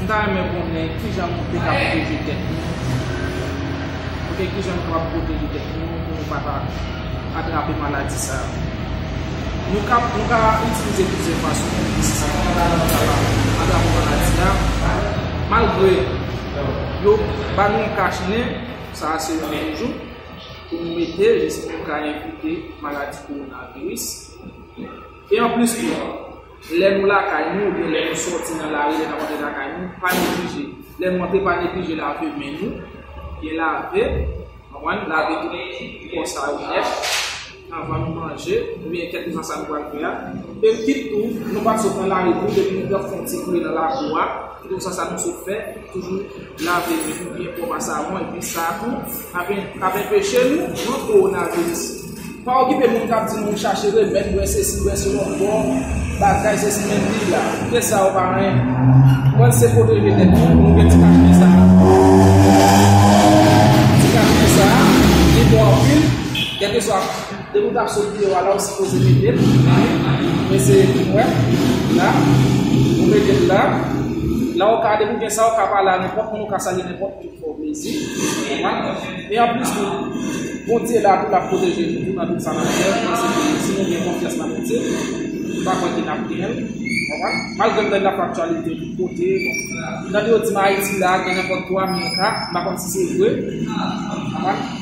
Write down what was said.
M ta renmen konnen kijan nou te ka pwoteje tèt nou, ok kijan nou kapab pwoteje tèt nou pou nou pa ta atrape maladi sa yo. Nou ka itilize plizyè fason pou nou sa, nou pa ta janm ka pa atrape maladi a, malgre yo ba nou yon kach nen, sa a se yon nen jou, pou nou mete jis pou nou ka evite maladi kowonaviris. E anplis tou. Lè nou lakay nou oubyen lè nou sòti nan lari lè n ap antre lakay nou pa neglije lè nou antre pa neglije lave men nou byen lave konprann lave tout kò sa yo nèt anvan nou manje oubyen kèlkeswa sa nou pral fè a epi tou nou pa sot nan lari pou depi nou pran fon ti kouri nan lakou a. Se konsa sa nou sot fè, toujou lave men nou byen pwòp a savon epi sa tou k'ap enpeche nou pran kowonaviris. Pa okipe moun k'ap di nou chache remèd, bwè sesi, bwè sela, bwè bagay sesi men li la. Kite sa yo pa anyen. Pran se pwoteje tèt nou, nou gen ti kachnen sa a. Ti kachnen sa a li bon anpil, kèlkeswa. Depi ou tap sot video a la ou sipoze metel men eseye poum wè la ou metel la la ou ka depi ou gen sa ou ka pale a nenpòt moun ou ka salye nenpòt moun ki fè ou plezi e anplis tou Bondye la tou lap pwoteje nou tou nan tout sa nap fè mwen se ke si nou gen konfyans nan Bondye m pa kwè ke nap genyen malgre m tande anpil aktyalite tout kote m tande yo di m ayiti la gen nenpòt 3 mil ka m pa konn si se vre